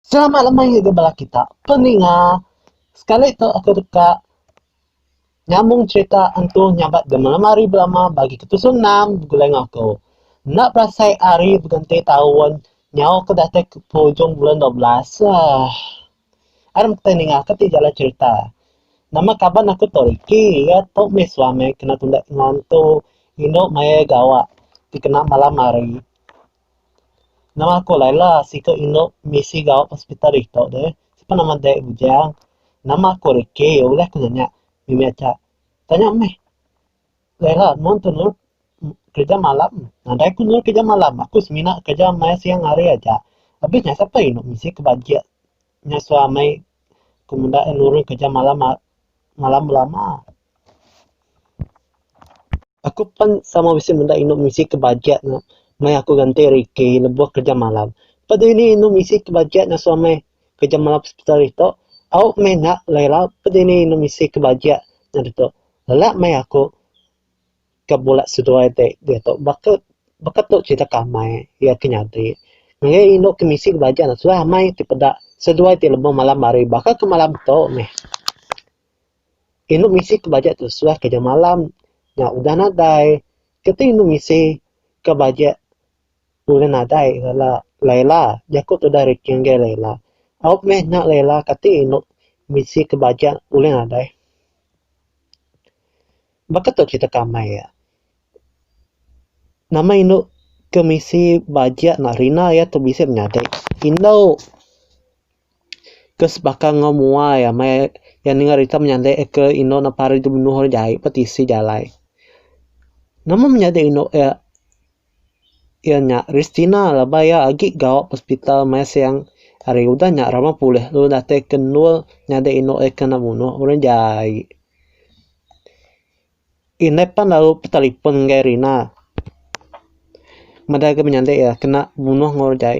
Selamat lemai ngagai bala kita peninga. Sekali tu aku deka nyambung cerita Entu Nyabat Gemelam Hari Belama bagi ke tusun enam begulai enggau aku. Enda berasai hari begenti taun nyau ke datai ke penghujung bulan dua belas. Aah. Ari meh kitai ninga ke ti jalai cerita. Nama kaban aku tu Ricky. Iya tu meh suami kena tunda indu entu. Indu maya iya gawa dikena malam hari. Nama aku alai la siku indu misi gau hospital ito deh sipa nama deh bujang nama aku reke ulih ku nanya mimi aja tanya meh alai la mun tu nur kerja malam nadai ku nur kerja malam aku semina kerja maya siang hari aja abis nya siapa indu misi ke bagi nya suah amai ku menda iya nurun kerja malam malam belama. Aku pen sama bisi menda inu misi ke bajet ne meh aku ganti riki lebuh kerja malam. Pak deh nih inu misi ke bajet ngasu amai kerja malam hospital ito au meh nya lera pun deh nih inu misi ke bajet nya ditu lelak meh aku. ka bula seduai ti diatu baka baka tu cerita ke amai iya ke nyadi ngagai iya inu ke misi belajar ne sudah amai ti peda seduai ti lemu malam hari baka ke malam tu meh inu misi ke belajar tu suah keja malam nya udah nadai keti inu misi ke belajar udah nadai bala Laila jaku tudah Ricky ngagai Laila au meh nya Laila kati inu misi ke belajar ulih nadai. Baka tu kitak ka amai iya. Nama indu ke misi bajak nak rina iya tu bisi menyadi. Indu ke sebaka enggau mua iya meh iya ninga rita menyadi ke indu ne pari dibunuh orang jai pa tisi jalai. Nama menyadi indu iya. Iya nya Ristina laban iya agi gawa ba hospital mai siang hari udah nya rama pulih lalu datai ke endur nyadi inu iya ke enda munuh orang jai. Indai pan lalu betelefon enggau Rina meda ke menyadi iya kena munuh enggau orang jai.